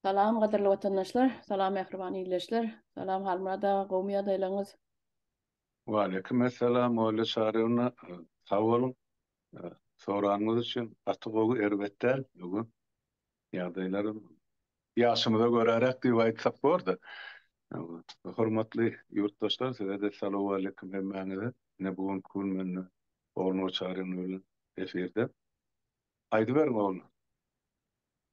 Salam gadyrly watandaşlar, salam mähriban ildeşler, salam Halmyrat aga, gowmy ýagdaýlaryňyz? Waleýkim essalam Olýa Çaryýewna, sag boluň, soranyňyz üçin, gaty gowy, erbet däl, öňe, ýagdaýlaram Ýaşymyza göräräk diýip aýtsak bor-da. Hormatly ýurtdaşlar size-de salowmaleýkim hemmäňize. Ine bu günki gün men Ogul Moçaryn bilen efirde. Aýdyberiň ogul.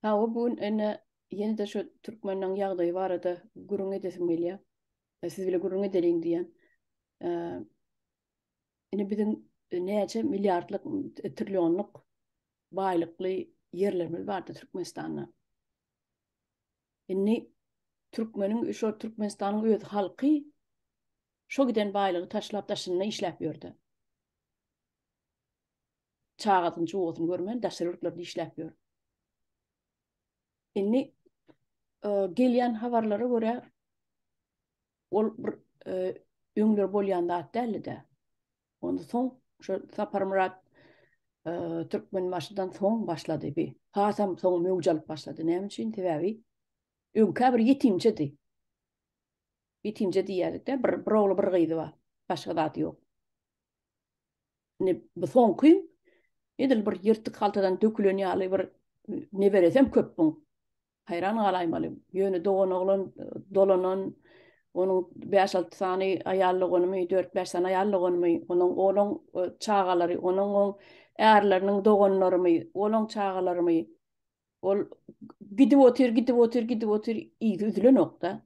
Hawa bu gün ine ýene-de şu türkmeniň ýagdaýy barada gürrüň edesim gelýä. Siz bile gürrüň edeliň diýýän. Ine biziň näçe milliardlyk, trillionlyk baýlykly ýerlerimiz bardy Türkmenistanda. Indi türkmeniň şo Türkmenistanyň öz halky şo giden baýlygy taşlap daşynda işläp ýördi. Çagasyny çugasyny görmän daşary ýurtlarda işläp ýör. Indi e, gelýän habarlara görä ol bir e, öňler bolýan zat däldi-de. Ondan soň şu Saparmyrat Türkmenbaşydan soň başlady bi. Hasam soň möwç alyp başlady. Näme üçin? Sebäbi öňkä bir ýetimçedi. Ýetimçe diýýärdik-de, bir, bir ogly, bir gyzy bar. Başga zat ýok. Ne bu soňky edil bir ýyrtyk haltadan dökülen ýaly bir neberesem köp bu. Haýran galaýmaly. Ýöne doganoglan dolanan, onuň bäş-alty sany aýal doganymy, dört-bäş sany aýal doganymy, onuň olaň çagalary, onuň oň ärleriniň doganlarymy, olaň çagalarymy, ol gidip otyr, gidip otyr, gidip otyr, yzy üzülenok-da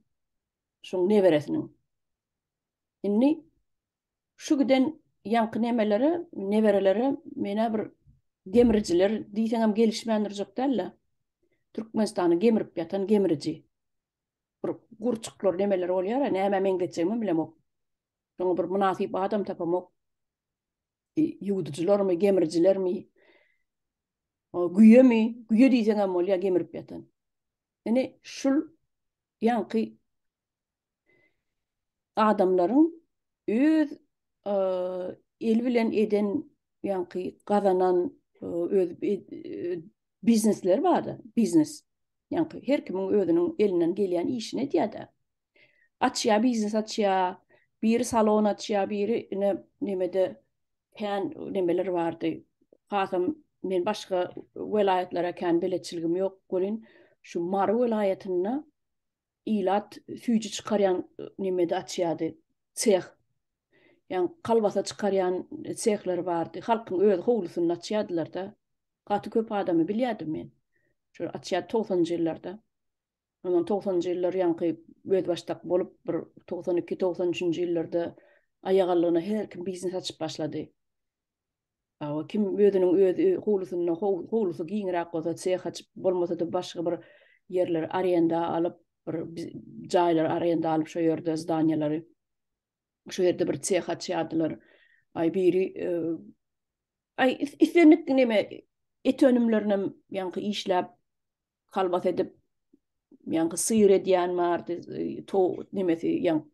şoň neberesiniň. Indi Şu giden ýaňky nemelere, neberelere men-ä bir gemrijiler diýseňem gelişmän durjak däl-le. Türkmenistany gemrip ýatan gemriji. Bir gurçuklar nemeler bolýar-a, nämä meňzetjegimem bilemok. Şoňa bir mynasyp adam tapamok. Ýuwdujylarmy, gemrijilermi? Güýemi? Güýe diýseňem bolýar gemrip ýatan. Ine, şul ýaňky adamlaryň öz eli bilen eden ýaňky gazanan öz biznesleri bardy. Biznes. Ýaňky her kimiň özüniň elinden gelýän işini edýärdi. Açýar biznes açýar. Biri salon açýar, biri ine nemede kän nemeler bardy. Hasam men başga welaýatlara kän beletçiligim ýok welin şu Mary welaýatynda ilat süýji çykarýan nemede açýardy seh. Ýan kalbasa çykarýan sehleri bardy. Halkyň öz howlusynda açýardylar-da. Gaty köp adamy bilýärdim men. Şol açýardy togsanjy ýyllarda. Ondan togsanjy ýyllar ýaňky özbaşdak bolup bir togsan iki, togsan üçünji ýyllarda aýagallygyna her kim biznes açyp başlady. Hawa, kim özüniň öz howlusynda, howlusy giňräk bolsa, seh açyp, bolmasa-da başga bir ýerleri arenda alyp, bir jaýlary arenda alyp, şo ýerde zdaniýalary, şo ýerde bir seh açýardylar. Aý, biri aý, islendik neme et önümlerinem ýaňky işläp, kalbas edip, ýaňky syýr edýän bardy, to nemesi, ýaň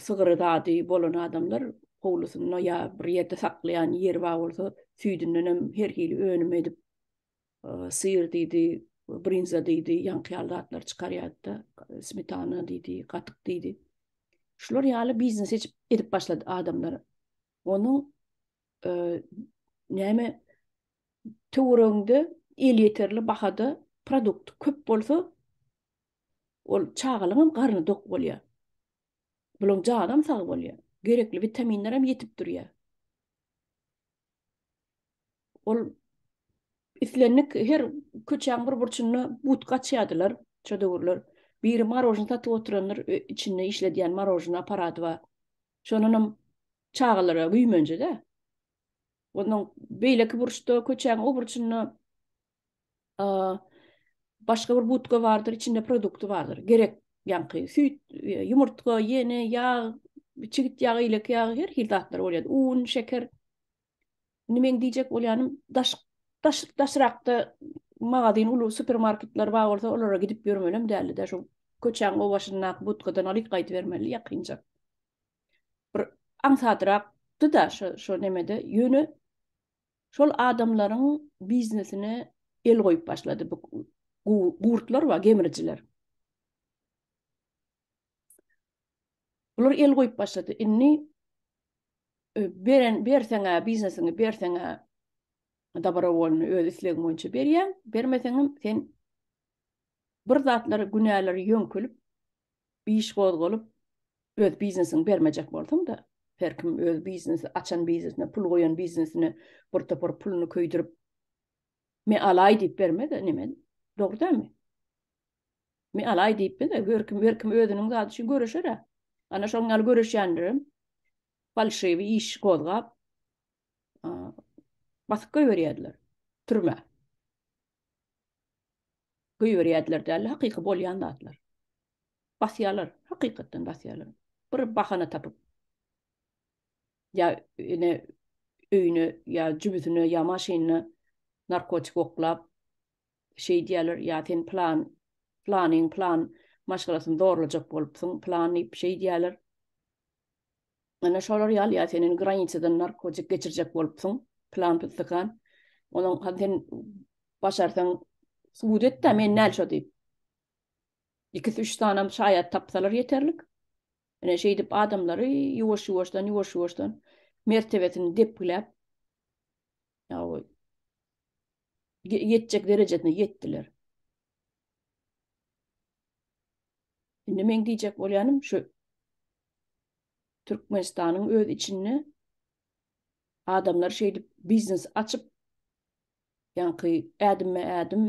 sygyry zady bolan adamlar howlusynda ýa bir ýerde saklaýan ýeri bar bolsa, süýdünden hem her hili önüm edip, syr diýdi, brinza diýdi, ýaňky ýaly zatlar çykarýardy-da, smetana diýdi, gatyk diýdi. Şular ýaly biznes eçip edip başlady adamlar. Onuň näme töweregiňde elýeterli bahada produkt köp bolsa, Ol çagalygyňam garny dok bolýar. Bulaň janam sag bolýar. Gerekli witaminlerem ýetip durýar. Ol islendik her köçäň bir burçunda budka açýardylar şo döwürler. Biri marožny satyp oturandyr, içinde işledýän marožny apparady bar. Şondanam çagalara güýmenje-dä. Ondan beýleki burçda, köçäň o burçunda başga bir butka bardyr, içinde produkty bardyr. Gerek ýaňky süýt, ýumurtga, ýene ýag, çigit ýagy, ýelek ýagy, her hil zatlar bolýar. Un, şeker. Indi meň diýjek bolýanym, daş daş daşrakda magazin, uly supermarketler bar bolsa, olara gidip ýörmelem däldi-de, şu köçäň o başyndaky butkadan alyp gaýdybermeli ýakynja. Bir aňsadrakdy-da şu şu nemede, ýöne Şol adamlaryň biznesine el goýup başlady bu gurtlar we gemrijiler. Bular el goýup başlady. Indi beren berseň-ä biznesiňi berseň-ä dabarowolny öz islegiň boýunça berýäň, bermeseňem sen Bir zatlar günäleri ýöňkelip, iş gozgalyp, öz biznesini bermejek bolsaň-da, her kim öz biznesi açan biznesine, pul goýan biznesine bir topar puluny köýdürip, Me alaý diýip berme-de, neme, dogry dälmi? Me alaý diýipmi-de, her kim, her kim özüniň zady üçin göreşer-ä. Ana şonuň ýaly göreşýänlerem falşiwi iş gozgap, basyp goýberýärler türmä. Göýberýärdiler däl-de, hakyky bolýan zatlar. Basýarlar, hakykatdan basýarlar. Bir bahana tapyp, ýa ine öýüne, ýa jübüsine, ýa maşynyna narkotik oklap, şeýdýärler, ýa sen plan, planyň plan maşgalasyny zorlajak bolupsyň, plan diýip şeýdýärler. Ana şolar ýaly ýa sen indi granisadan narkotik geçirjek bolupsyň, plan pystykan. Onuň hany sen başarsaň subut et-de men näl şo diýip. Ikisi üç sanam şaýat tapsalar ýeterlik. Ine şeýdip adamlary ýuwaş-ýuwaşdan, ýuwaş-ýuwaşdan mertebesini depgiläp ýaoý ýetjek derejesine ýetdiler. Indi meň diýjek bolýanym şu Türkmenistanyň öz içinde adamlar şeýdip biznes açyp, ýaňky ädimme-ädim,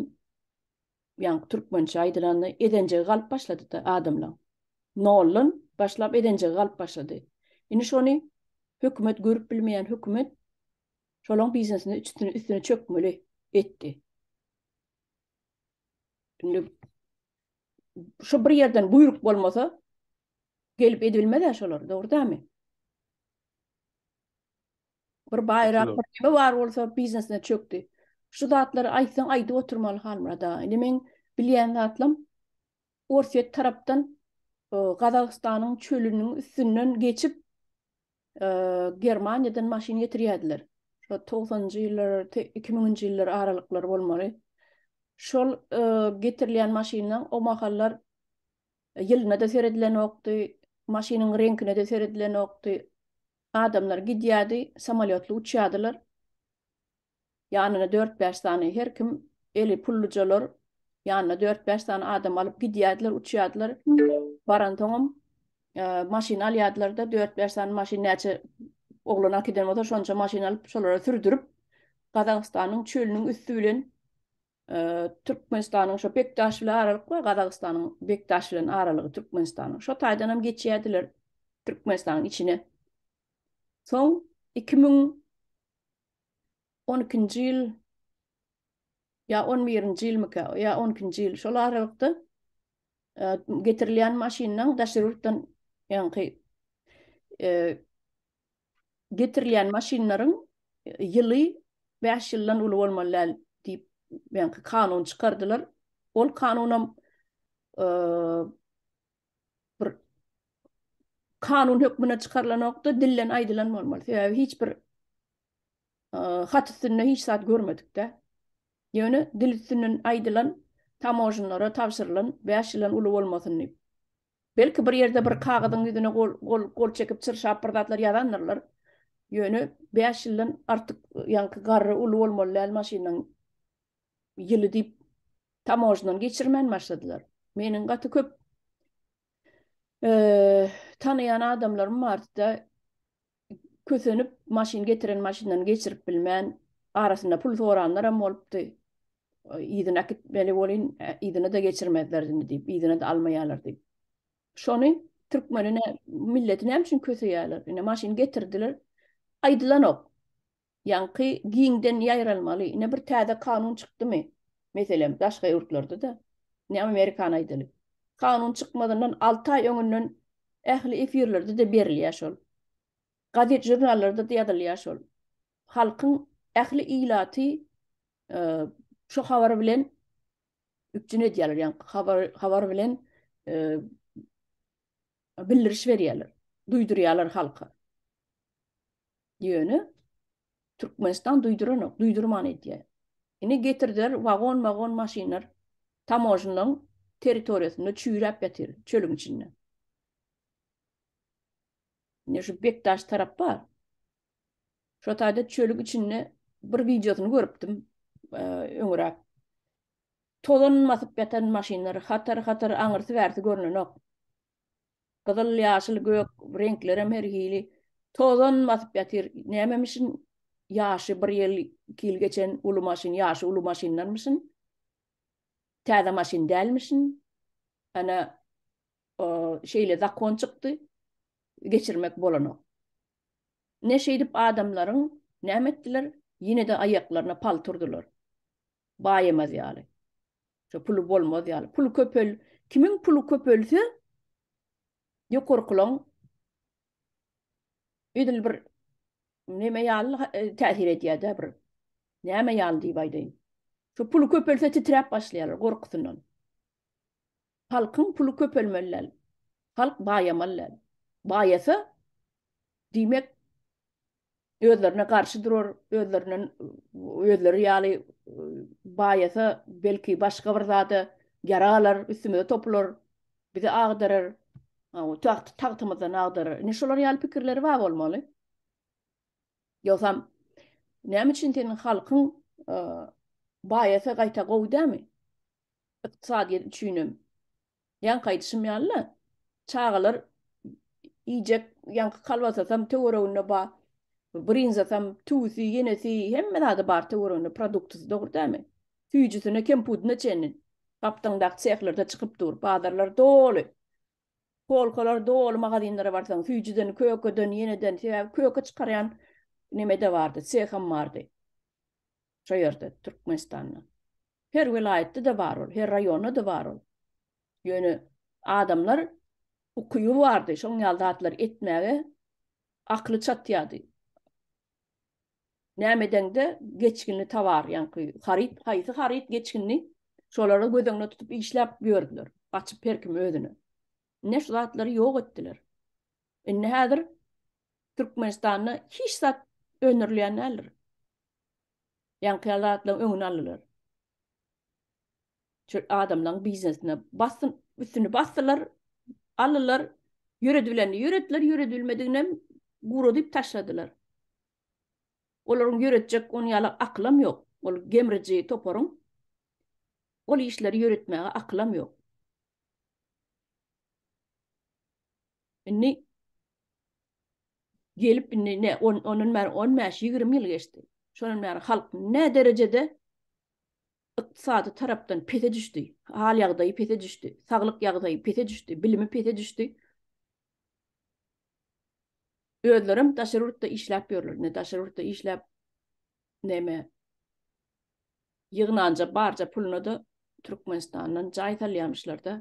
ýaňky türkmençe aýdylanda ezenjegi galyp başlady-da adamlaň. Noldan başlap ezenjegi galyp başlady. Indi şony hökümet görüp bilmeýän hökümet şolaň biznesine üstüne çökmeli etdi. Indi şu bir ýerden buýruk bolmasa, Gelip edilmez-ä şolar, dogry dämi? Bir baýrak, bir neme bar bolsa biznesine çökdi. Şu zatlary aýtsaň aýdyp oturmaly Halmyrat aga. Indi meň bilýän zatlam Orsýet tarapdan Gazagystanyň çölüniň üstünden geçip Germaniýadan maşyn getirýärdiler. Şo togsanjy ýyllar, iki müňünji ýyllar aralyklary bolmaly. Şol getirilýän maşynlaň o mahallar Ýylyna-da seredilenokdy, maşynyň reňkine-de seredilenokdy. Adamlar gidýärdi, samolýotly uçýardylar. Ýanyna dört-bäş sany, her kim eli pullujalar, ýanyna dört-bäş sany adam alyp gidýärdiler, uçýardylar. Baransoňam, maşyn alýardylar-da, dört-bäş sany maşyn, näçe oglan akydan bolsa, şonça maşyn alyp, şolara sürdürip, Gazagystanyň çölüniň üsti bilen Türkmenistanyň şo Bekdaş bilen aralyk bar, Gazagystanyň Bekdaş bilen aralygy Türkmenistanyň. Şo taýdan hem geçýärdiler Türkmenistanyň içine. Soň iki müň on ikinji ýyl ýa on birinji ýylmyka, ýa on ikinji ýyl şol aralykda getirilýän maşynlaň daşary ýurtdan ýaňky getirilýän maşynlaryň ýyly bäş ýyldan uly bolmaly däl diýip, ýaňky kanun çykardylar. Ol kanunam bir kanun hökmünde çykarylanokdy, dilden aýdylan bolmaly. Sebäbi hiç bir hat üstünde hiç zat görmedik-de. Ýöne dil üstünden aýdylan tamožnlara tabşyrylan bäş ýyldan uly bolmasyn diýip. Belki bir ýerde bir kagyzyň ýüzüne gol çekip çyrşap bir zatlar ýazandyrlar. Ýöne bäş ýyldan artyk ýaňky garry uly bolmaly däl maşynyň ýyly diýip tamožnany geçirmän başladylar. Meniň gaty köp tanaýan adamlarym bardy-da. Kösenip, maşyn getiren maşyndan geçirip bilmän, arasynda pul soranlaram bolupdy. Yzyna äkitmeli bolyn, yzyna-da geçirmezler indi diýip, yzyna-da almaýarlar diýip. Şony türkmeni, milleti näme üçin köseýärler? Ine, maşyn getirdiler. Aýdylanok. Ýaňky giňden ýaýralmaly. Ine bir täze kanun çykdymy? Meselem, daşga ýurtlarda-da, ine Amerikany aýdaly. Kanun çykmazyndan alty aý öňünden ähli efirlerde-de berilýär şol. Gazet žurnallarda-da ýazylýar şol. Halkyň ähli ilaty şu habar bilen üpjün edýärler, ýaňky habar habar bilen bildiriş berýärler, duýdurýarlar halka. Ýöne Türkmenistan duýduranok, duýdurman edýär. Ine getirdiler wagon-magon maşynlar tamojnyň territoriýasynda çüýräp ýatyr, çölüň içinde. Ine şu Bekdaş tarap bar. Şo taýda çölüň içinde bir wideosyny görüpdim öňüräk. Tozan basyp ýatan maşynlar hatar-hatar aňyrsy-bärsi görnenok. Gyzyl, ýaşyl, gök reňklerem her hili. Tozan basyp ýatyr. Nämemişin ýaşy bir ýyl, iki ýyl geçen uly maşyn, ýaşy uly maşyndanmyşyn. Täze maşyn dälmişin. Ana, o, şeýle zakon çykdy. Geçirmek bolanok. Ine şeýdip adamlaryň näme etdiler? Ýene-de aýaklaryna palta urdular. Baýamaz ýaly. Şo puly bolmaz ýaly. Puly köpel. Kimiň puly köpelse ýokarkylaň edil bir neme ýaly täsir edýär-dä bir. Näme ýaly diýip aýdaýyn. Şu puly köpelse titräp başlaýarlar gorkusyndan. Halkyň puly köpelmeli däl. Halk baýamaly däl. Baýasa, diýmek, özlerine garşy durar, özlerinden özleri ýaly baýasa, belki, başga bir zada ýarag alar, üstümize topular, bizi agdarar, tagtymyzdan agdarar. Indi şolar ýaly pikirleri bar bolmaly. Ýogsam, näme üçin seniň halkyň baýasa gaýta gowy dälmi? ykdysadyýet üçinem ýaňky aýdyşym ýaly-la çagalar iýjek ýaňky kolbasasam töwereginde bar, brinzasam, tüwüsi, ýenesi hemme zady bar töwereginde produktasy dogry dälmi? Süýjüsine, kempudyna çenli gapdaňdaky sehlerde çykyp dur, bazarlar doly. Polkalar doly magazinlere barsaň süýjüden, kökeden, ýeneden sebäbi köke çykarýan neme-de bardy, seham bardy. Şo ýerde Türkmenistanda. Her welaýatda-da bar ol, her raýonda-da bar ol. Ýöne adamlar ukyby bardy, şoň ýaly zatlary etmäge akly çatýardy. Näme edeňde geçginli tovar, ýaňky haryt, haýsy haryt geçginli, şolary göz öňünde tutup işläp ýördüler. Gaçyp her kim özüne. Ine şu zatlary ýok etdiler. Indi häzir Türkmenistanda hiç zat öndürilýän däldir. Ýaňky ýaly zatlaryň öňüni aldylar. Şu adamlaryň biznesine basym üstüni basdylar, aldylar, ýöredibilenini ýöretdiler, ýöredibilmediginem guradyp taşladylar. Olaryň ýöretjek ony ýaly akylam ýok. Ol gemriji toparyň ol işleri ýöretmäge akylam ýok. Indi gelip indi ne on ondan bäri on bäş ýigrimi ýyl geçdi şondan bäri halk ne derejede ykdysady tarapdan pese düşdi hal ýagdaýy pese düşdi saglyk ýagdaýy pese düşdi bilimi pese düşdi özlerem daşary ýurtda işläp ýörler ne daşary ýurtda işläp neme ýygnanja barja puluna da türkmenistandan jaý salýamyşlar da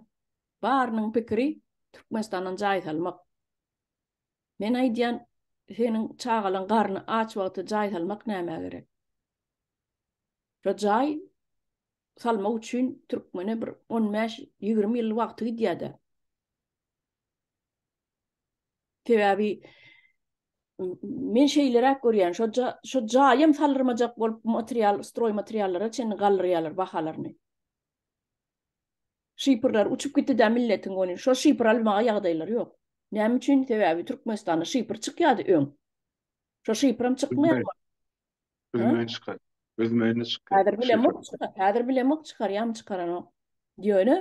barynyň pikiri türkmenistandan jaý salmak Men aýdýan, seniň çagalaň garny aç wagty jaý salmak nämä gerek? Şu jaý salmak üçin türkmene bir on bäş, ýigrimi ýyl wagty gidýär-de. Sebäbi men şeýleräk görýän, şo ja, şo jaýam saldyrmajak bolup material, stroý materiallara çenli galdyrýarlar bahalaryny. Şypyrlar uçup gitdi-dä milletiň goni, şo şypyr almaga ýagdaýlary ýok. Näme üçin? Sebäbi Türkmenistanda şypyr çykýady öň. Şo şypyram çykmaýar boldy. Özümen çykar. Özümen-de çykýar. Häzir bilemok çykar. Häzir bilemok çykarýamy çykaranok. Ýöne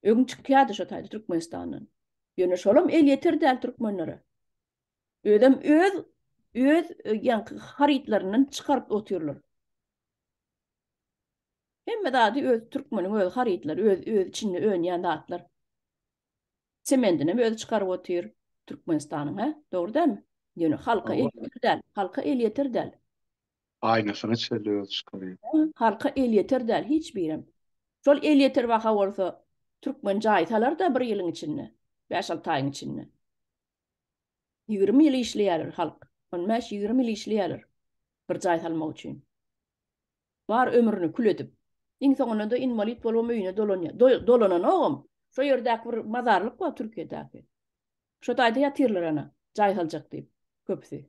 öň çykýady şo taýda Türkmenistandan. Ýöne şolam elýeter däl türkmenlere. Özem öz öz ýaňky harytlaryndan çykaryp otyrlar. Hemme zady öz türkmeniň öz harytlary, öz öz içinde önýän zatlar. Semendini hem özi çykaryp otyr Türkmenistanyň, hä? Dogry dälmi? Ýöne halka elýeter däl, halka elýeter däl. Aýnasyny şeýle özi çykarýar. Hä, halka elýeter däl hiç birem. Şol elýeter baha bolsa türkmen jaý salar-da bir ýylyň içinde, bäş-alty aýyň içinde. Ýigrimi ýyl işleýärler halk, on bäş, ýigrimi ýyl işleýärler bir jaý salmak üçin. Bar ömrüni kül edip. Iň soňunda-da inwalit bolubam öýüne dolanýar. Dolananogam. Şo ýerdäki bir mazarlyk bar Türkiýedäki. Şo taýda ýatyrlar ana, jaý saljak diýip, köpüsi.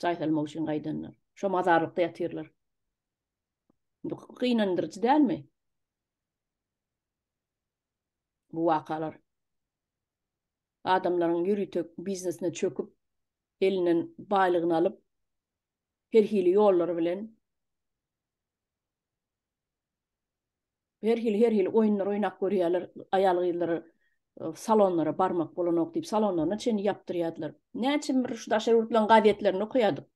Jaý salmak üçin gaýdanlar. Şo mazarlykda ýatyrlar. Bu gynandyryjy dälmi? Bu wakalar. Adamlaryň ýörite biznesine çöküp, elinden baýlygyny alyp, her hili ýollar bilen her hili her hili oýunlar oýnap görýärler aýal-gyzlar salonlara barmak bolanok diýip salonlaryna çenli ýapdyrýardylar näçe bir şu daşary ýurtlaryň gazetlerini okaýardyk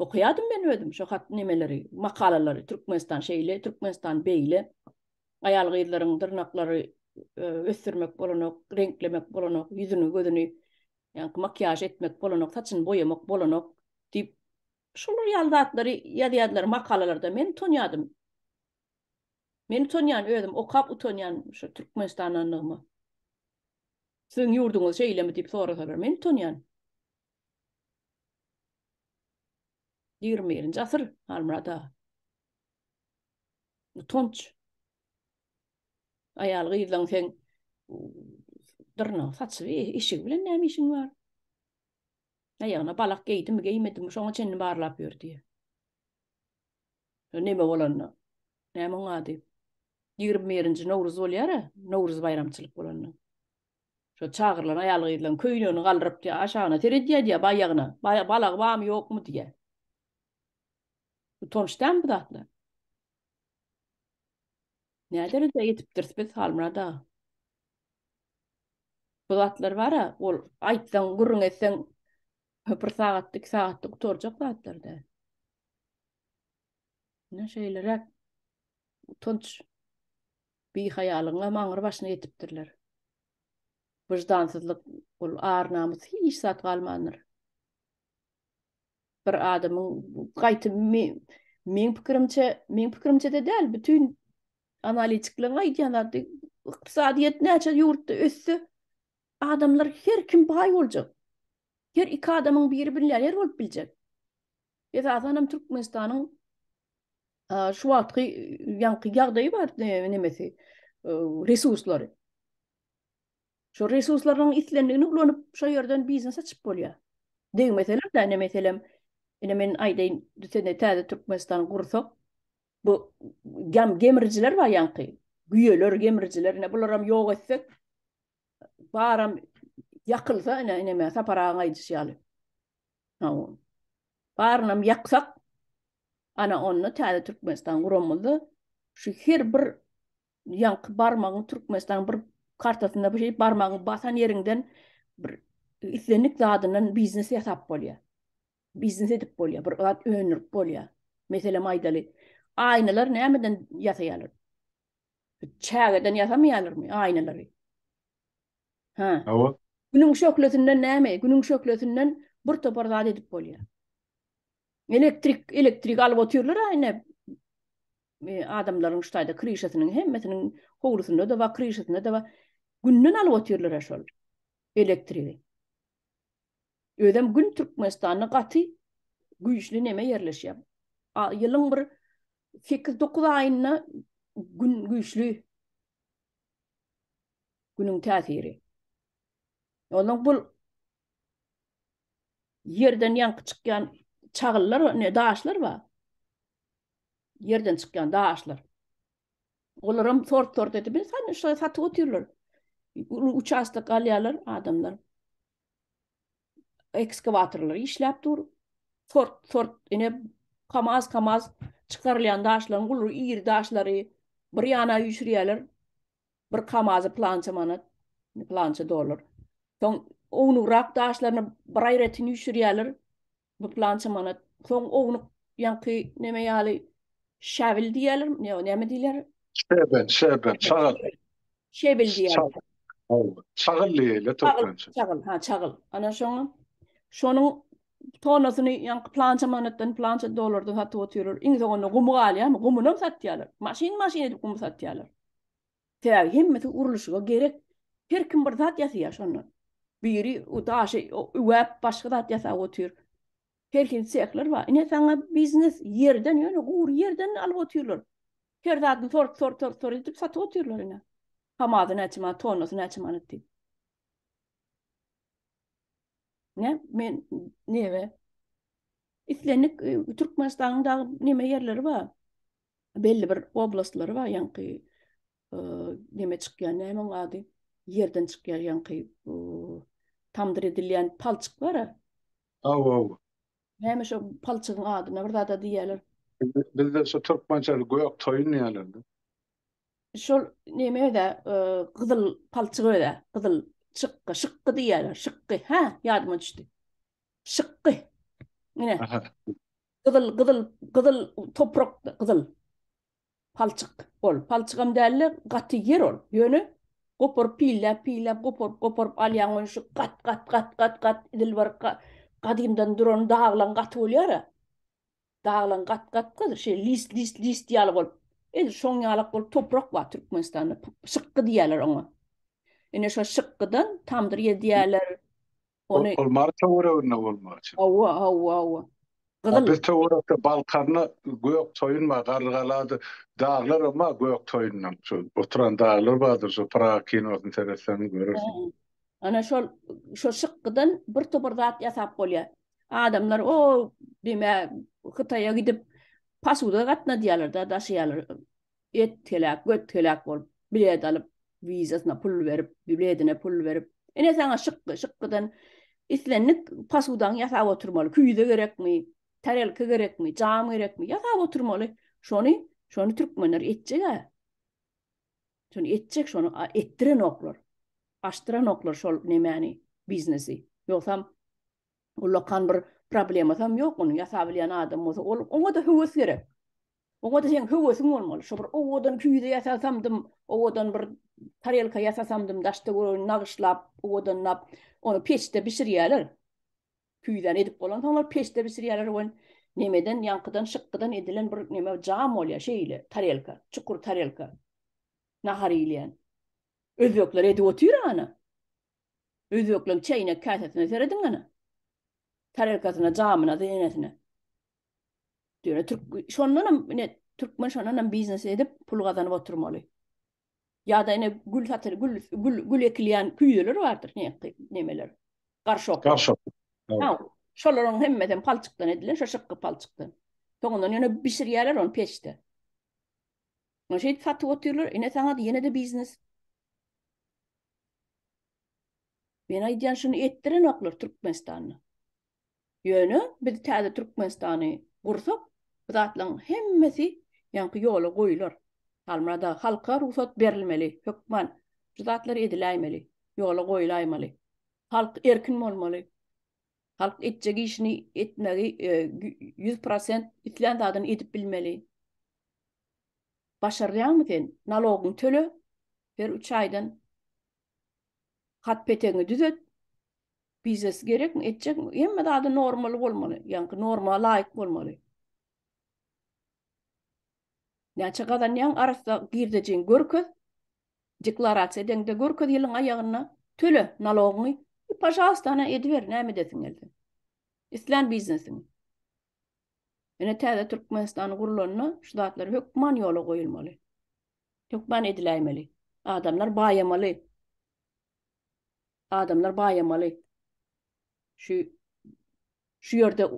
okaýardym men özüm şu hat nemeleri makalalary türkmenistan şeýle türkmenistan beýle aýal-gyzlaryň dyrnaklary ösdürmek bolanok reňklemek bolanok ýüzüni gözüni Ýaňky makiýaž etmek bolanok, saçyny boýamak bolanok diýip, şular ýaly zatlary ýazýardylar makalalarda. Men utanýardym. Meni utanýan özüm, okap utanýan şu Türkmenistandanlygyma. Siziň ýurduňyz şeýlemi diýip sorasalar, men utanýan. Ýigrimi birinji asyr, Halmyrat aga. Utanç. Aýal gyzlaň sen dyrnagyň saçygy, işigi bilen näme işiň bar? Aýagyna balak geýdimi, geýmedimi, şoňa çenli barlap ýör diýýär. Neme bolanda? Näme oň ady? Ýigrimi birinji Nowruz bolýar-a, Nowruz baýramçylyk bolanda. Şo çagyrylan aýal-gyzlaň köýnegini galdyryp diýýär, aşagyna seredýär diýýär, baýagyna, balagy barmy, ýokmy diýýär. Utanç dälmi bu zatlar? Nä derejä ýetipdiris biz Halmyrat aga? Bu zatlar bar-a, ol aýtsaň, gürrüň etseň, bir sagatda, iki sagatda gutarjak zatlar däl. Ine, şeýleräk utanç bihaýalygyňam aňry-başyna ýetipdirler. Wyždansyzlyk, ol ar-namys, hiç zat galmandyr. bir adamyň gaýty meň pikirimçe, meň pikirimçe-de däl, bütin analitikleriň aýdýan zady, ykdysadyýet näçe ýurtda össe, adamlar her kim baý boljak. Her iki adamyň biri millioner bolup biljek. Esasan hem Türkmenistanyň şu wagtky ýaňky ýagdaýy bar, nemesi, resurslary. Şo resurslaryň islendigini ulanyp, şo ýerden biznes açyp bolýar. Degmeseler-de, ine, meselem, ine, men aýdaýyn, düşende täze Türkmenistany gursak, bu gam gemrijiler bar ýaňky, güýeler, gemrijiler, ine, bularam ýok etsek, baram ýakylsa, ine, ine, me, Sapar agaň aýdyşy ýaly, barynam ýaksak, ana, onda täze Türkmenistan guramyzda şu her bir ýaňky barmagyň Türkmenistanyň bir kartasynda bu şeýdip barmagyň basan ýeriňden bir islendik zadyndan biznes ýasap bolýar. Biznes edip bolýar, bir zat öndürip bolýar. Meselem aýdaly, aýnalar nämeden ýasaýarlar? Çägeden ýasamaýarlarmy aýnalary? Ha. Hawa. Günüň şöhlesinden näme? Günüň şöhlesinden bir topar zat edip bolýar. Elektrik, elektrik alyp otyrlar aýna. Adamlaryň şu taýda kryşasynyň hemmesiniň howlusynda-da bar, kryşasynda-da bar. Günden alyp otyrlar-a şol elektrigi. Özem Gün Türkmenistanda gaty güýçli neme ýerleşýär. Ýylyň bir sekiz-dokuz aýynda Gün güýçli Günüň täsiri. Ondan bul Ýerden ýaňky çykýan çagyllar, ne daşlar bar. Ýerden çykýan daşlar. Olaram sort-sort edip, bir sany şoýa satyp otyrlar. Uly uçastok galýarlar adamlar. Ekskawatorlar işläp dur. Sort-sort ine kamaz-kamaz çykarylýan daşlaryň uly iri daşlary bir ýana üýşürýärler. Bir kamazy plança manat, plança dollar. Soň ownugrak daşlaryny bir aýratyn üýşürýärler. Bu plança manat. Soň ownuk ýaňky neme ýaly şäbil diýýärler, ýa näme diýler? Şebel, şebel, çagyl. Şebel diýýärler. Çagyl diýýärler türkmençe. Çagyl, ha, çagyl. Ana şoňa şonuň tonasyny ýaňky plança manatdan, plança dollardan satyp otyrlar. Iň soňunda gumy galýarmy? Gumyny hem satýarlar. Maşyn-maşyn edip gumy satýarlar. Sebäbi hemmesi gurluşyga gerek. Her kim bir zat ýasaýar şondan. Biri o daşy üwäp başga zat ýasap otyr. Her hil sehler bar. Ine saňa biznes ýerden ýöne gury ýerden alyp otyrlar. Her zadyny sort sort sort sort edip satyp otyrlar ine. Kamaz näçe manat, tonnasy näçe manat diýip. Ne men nebe islendik Türkmenistanyň dagy neme ýerleri bar. belli bir oblastlary bar ýaňky neme çykýan näme onuň ady ýerden çykýar ýaňky tamdyr edilýän palçyk bar aw aw näme şo palçygyň adyna bir zada diýýärler bizde şu türkmençeli gök toýun diýýärler şol neme öde gyzyl palçyk öde gyzyl şykgy şykgy diýýärler şykgy ha ýadyma düşdi şykgy ine Gyzyl, gyzyl, gyzyl toprak, gyzyl. Palçyk ol. Palçygam däldi, gaty ýer ol. Ýöne goparyp pilläp, pilläp, goparyp, goparyp alýaň ony şu gat, gat, gat, gat, gat, dilbar gadymdan duran daglaň gaty bolýar-a. Daglaň gat, gat, gat, şeý list, list, list ýaly bolup. Edil şoň ýalak bolup toprak bar Türkmenistanda. Şykgy diýýärler oňa. Ine şo şykgydan tamdyr ýedýärler. Ony Ol Mary töwereginde bolmaly çyn. Hawa, hawa, hawa. Gyzyl. Biz töwerekde Balkaryny gök toýun bar, Garrygalady daglar hem bar gök toýundan. Şu oturan daglar bardyr, şu Praga kinosyny seretseň görersiň. Ana şol şo şykgydan bir topar zat ýasap bolýar. Adamlar o deme Hytaýa gidip pasuda gatnadýarlar-da, daşaýarlar. etgelek, götgelek bolup, bilet alyp, wizasyna pul berip, biletine pul berip, ine saňa şykgy, şykgydan islendik posudaňy ýasap oturmaly, küýze gerekmi, tarelka gerekmi, jam gerekmi, ýasap oturmaly. Şony, şony türkmenler etjeg-ä. Şony etjek, şony etdirenoklar. Açdyranoklar şol nemäni, biznesi. Ýogsam, Ullakan bir problemasam ýok ony ýasabilýän adam bolsa ol oňada höwes gerek. Oňada seň höwesiň bolmaly. Şo bir owadan küýze ýasasamdym, owadan bir tarelka ýasasamdym daşda gören nagyşlap, owadanlap ony peçde bişirýäler. Küýzäni edip bolansoň ol peçde bişirýäler wen nemeden ýaňkydan şykgydan edilen bir neme jam bolýar şeýle tarelka, çukur tarelka. Nahar iýilýän. Özbekler edip otyr ana. Özbekleň çäýnek käsesine serediň hany. Tarelkasyna, jamyna, zeýnesine. Ýöne türk şondanam ine türkmen şondanam biznes edip pul gazanyp oturmaly. Ýa-da ine gül satyl gül gül gül ekilýän küýzeler bardyr ne nemeler. Garşok. Garşok. Şolaryň hemmesi hem palçykdan edilen, şo şykgy palçykdan. Soňundan ýöne bişirýärler ony peçde. Şeýdip satyp otyrlar, ine saňa ýene-de biznes. Men aýdýan şuny etdirenoklar Türkmenistanda. Ýöne biz täze Türkmenistany gursak, bu zatlaryň hemmesi ýaňky ýola goýular. Halmyrat aga, halka rugsat berilmeli, hökman şu zatlar ediläýmeli, ýola goýulaýmaly. Halk erkin bolmaly. Halk etjek işini etmegi ýüz prosent islän zadyny edip bilmeli. Başarýaňmy sen? Nalogyňy töle, her üç aýdan hat-petegiňi düzet. Biznes gerekmi, etjekmi? Hemme zady normal bolmaly, ýaňky norma laýyk bolmaly. Näçe gazanýaň, arassa girdejiňi görkez, deklarasiýa edeňde görkez ýylyň aýagynda, töle nalogyňy i pažalystana ediber näme edesiň gelse. Islän biznesiňi. Ine täze Türkmenistan gurlanda şu zatlar hökman ýola goýulmaly. Hökman ediläýmeli. Adamlar baýamaly. Adamlar baýamaly. Şu şu ýerde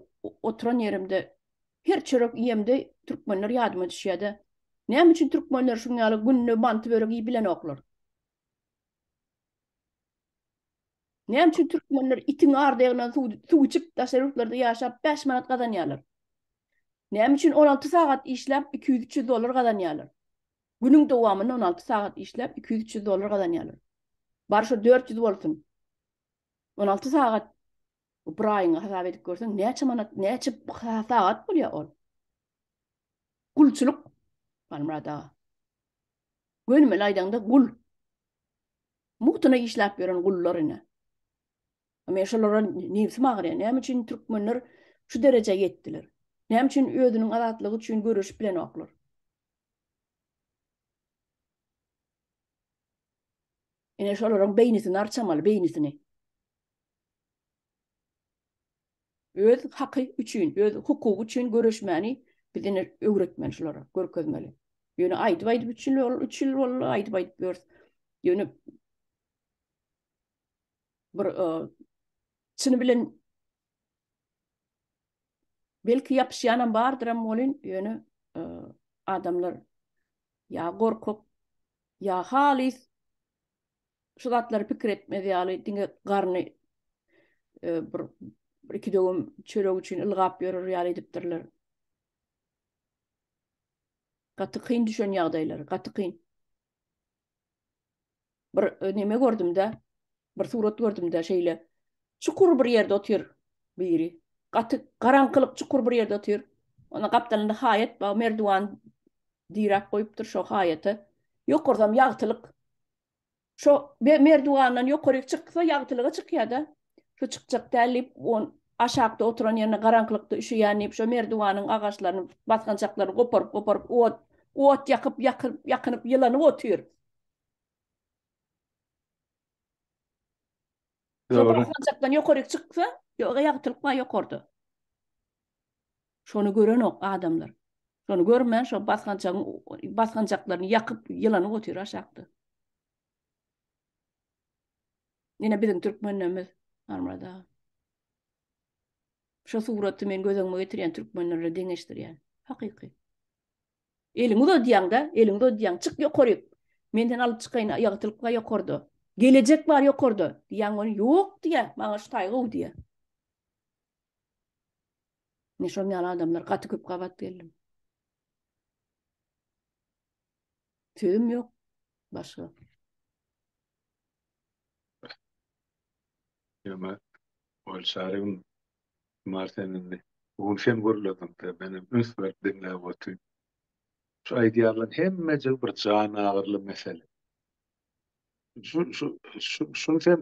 oturan ýerimde her çörek iýemde türkmenler ýadyma düşýärdi. Näme üçin türkmenler şuň ýaly günde manty börek iýip bilenoklar? Näme üçin türkmenler itiň ardyýagyndan suw içip, daşary ýurtlarda ýaşap, bäş manat gazanýarlar? Näme üçin on alty sagat işläp, iki ýüz-üç ýüz dollar gazanýarlar? Günüň dowamynda on alty sagat işläp, iki ýüz-üç ýüz dollar gazanýarlar. Bar şo dört ýüz bolsun. On alty sagat bir aýyňy hasap edip görseň, näçe manat, näçe sagat bolýar ol? Gulçulyk, Halmyrat aga. Gönümel aýdaňda, gul. Mugtuna işläp ýören gullar ine. Men şolara nebsim agyrýar. Näme üçin türkmenler şu derejä ýetdiler? Näme üçin özüniň azatlygy üçin göreşip bilenoklar? Ine şolaryň beýnisini arçamaly, beýnisini. Öz haky üçin, öz hukugy üçin göreşmäni biz ine öwretmeli şulara, görkezmeli. Ýöne aýdyp-aýdyp üç ýyl, üç ýyl boldy aýdyp-aýdyp ýörüs. Ýöne bir e, çyny bilen belki ýapyşýanam bardyram bolin, ýöne e, adamlar ýa gorkak, ýa halys Şu zatlary pikir etmez ýaly diňe garny e, bir iki döwüm çörek üçin ylgap ýörer ýaly edipdirler. Gaty kyn düşen ýagdaýlar, gaty kyn. Bir e, neme gördüm-de, bir surat gördüm-de şeýle. Çukur bir ýerde otyr biri. Gaty garaňkylyk çukur bir ýerde otyr. Ona gapdalynda haýat bar, merdiwan Diräp goýupdyr şo haýata. Ýokarsam ýagtylyk. Şo merdiwandan ýokaryk çyksa ýagtylyga çykýa-da. Şu çykjak däl diýip, on aşakda oturan ýerine garaňkylykda üşüýän diýip şo merdiwanyň agaçlaryny, basgançaklaryny goparyp-goparyp ot, ot ýakyp, ýakyp, ýakynyp ýylanyp otyr. Şo basgançakdan ýokaryk çyksa, ýoga ýagtylyk bar ýokarda. Şony görenok adamlar. Şony görmän şo basgançagyň basgançaklaryny ýakyp, ýylanyp otyr aşakda. Ýene biziň türkmenlerimiz Armyrat aga. Şo suraty men göz öňüme getirýän türkmenlerle deňeşdirýän. Hakyky. Eliňi uzadýaň-da, eliňi uzadýaň, çyk ýokaryk, men seni alyp çykaýyn, ýagtylyk bar ýokarda, gelejek bar ýokarda, diýýän welin, ýok diýýär, maňa şu taý gowy diýýär. Men şonuň ýaly adamlar gaty köp gabat geldim. Sözüm ýok başga. Ýöne ol çarygyň Şumar sen indi bu gün sen gürlediňde menem üns berip diňläp otyryn. Şu aýdýanlaryň hemmejigi bir jan agyryly mesele. Şu şu şu şuny sen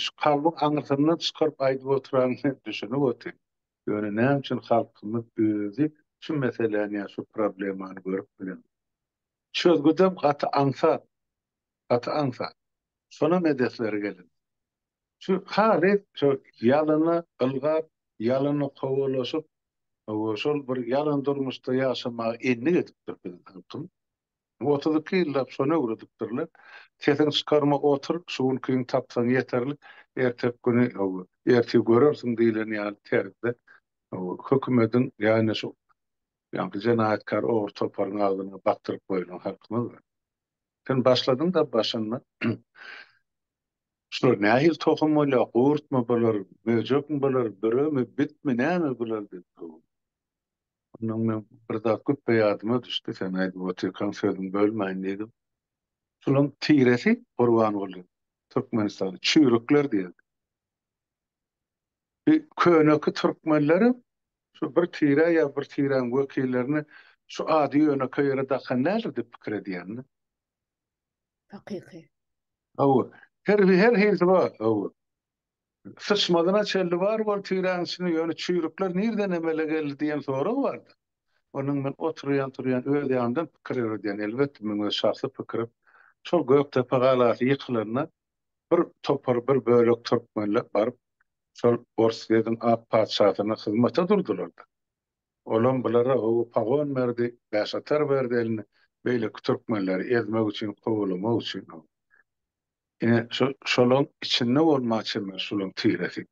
şu kalbyň aňyrsyndan çykaryp aýdyp otyranyňy düşünip otyryn. Ýöne näme üçin halkymyz özi şu meseläni ýa şu problemany görüp bilenok. Çözgüdem gaty aňsat. Gaty aňsat. Şonam edesleri gelin. Şu halyt şu ýalana ylgap, ýalana kowalaşyp, hawa şol bir ýalan durmuşda ýaşamaga endik edipdir biziň halkyň. Otuz iki ýyllap şony öwredipdirler. Sesiňi çykarma otur, şu günkiňi tapsaň ýeterlik, erteki güni hawa, ertir görersiň diýleni ýaly terzde hawa hökümediň ýa-da şu ýaňky jenaýatkär ogry toparyň agzyna bakdyryp goýlan halkymyz bar. Sen başladyň-da başynda. Şular nähili tohum bolýar, gurtmy bular, möjekmi bular, büremi, bitmi, näme bular diýip sowdum. Ondan men bir zat güpbe ýadyma düşdi, sen aýdyp otyrkaň sözüňi bölmäýin diýdim. Şularyň tiresi, Gurbanguly, Türkmenistanda çüýrükler diýerdi. Bi köneki türkmenleriň şu bir tire ýa bir tiräň wekillerini şu ady ýönekeý ýere dakan nädir diýip pikir edýänmi? Hakyky. Hawa. Her bir her hilsi bar. Hawa. Syçmazyna çenli bar bol tiräň içinde ýöne çüýrükler nirden emele geldi diýen sorag bardy. Onuň men oturýan turýan öz ýanymdan pikir ýöredýän elbetde meň öz şahsy pikirim. Şol Gökdepe galasy ýykylanda bir topar, bir bölek türkmenler baryp, şol Orsýetiň ak patyşasyna hyzmata durdular-da. Olam bulara gowy pagon berdi, bäşatar berdi eline, beýleki türkmenleri ezmek üçin, kowalamak üçin. Ine, şo-şolaň içinde bolmaga çemeli şolaň tiresi.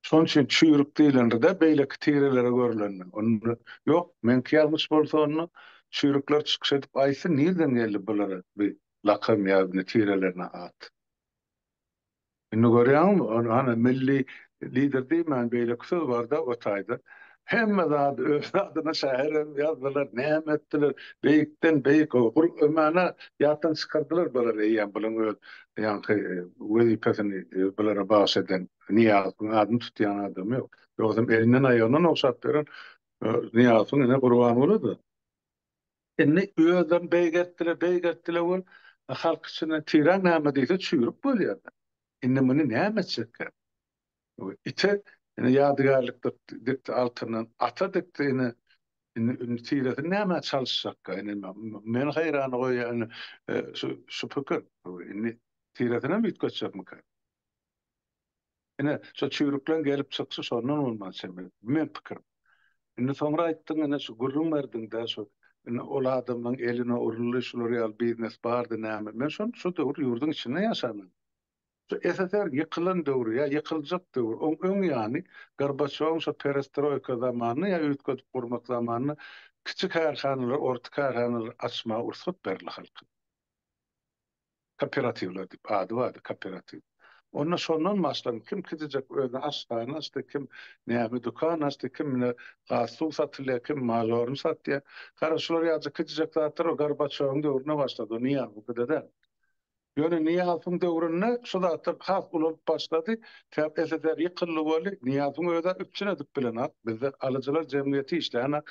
Şonuň üçin çüýrük diýlenride beýleki tirelere görlende. Onda ýok, meňki ýalňyş bolsa onda çüýrükler çykyş edip aýtsyn nirden geldi bulara bi lakam ýa ne tirelerine at. Indi görýäňmi, ony hany milli lider diýmän beýleki söz barda o taýda Hemme zady öz zadyna şaher hem ýazdylar, näme etdiler, beýikden beýik o gul ömäne ýatdan çykardylar bular eýýäm bulan öz ýaňky wezipesini bulara bagyş eden Nyýazowyň adyny tutýan adamy ýok. Ýogsam elinden aýagyndan ogşap beren Nyýazowyň ine Gurbangulydy. Indi özlerini beýgeltdiler, beýgeltdiler we halk içinden tiran näme diýse çüýrük bolýar. Indi muny näme etjekkä? Ite ine ýadygärlik dikdi altyndan, ata dikdi ine indi tiresini nämä çalyşjakka ine meni haýrana goýýan ine şu şu pikir indi tiresinem üýtgetjekmika ine şo çüýrükleň gelip çykyşy şondan bolmaly çeme bu meň pikirim indi soňra aýtdyň ine şu gürrüň berdiňdä şu ine ol adamlaň eline uruldy şular ýaly biznes bardy näme men şony şu döwür ýurduň içinde ýaşaman Şu SSR ýykylan döwri ýa ýykyljak döwür, oň öň ýany, Gorbaçýowyň şo perestroýka zamanynda ýa üýtgedip gurmak zamanynda kiçi kärhanalary, orta kärhanalary açmaga rugsat berildi halka. Kooperatiwler diýip ady bardy, kooperatiw. Onda şondan başlanyp, kim kiçijek özüne aşhana açdy, kim näme dükan açdy, kim ine gaz-suw satylýar, kim mažoryny satýar. Gara, şular ýaja kiçijek zatlar o Gorbaçýowyň döwründe başlady, o niýe, bu pide däl. Ýöne Nyýazowyň döwründe şu zatlar has ulalyp başlady, sebäp SSR ýykyldy boldy, Nyýazowyň özä üpjün edip bilenok, bizde alyjylar jemgyýeti işlänok,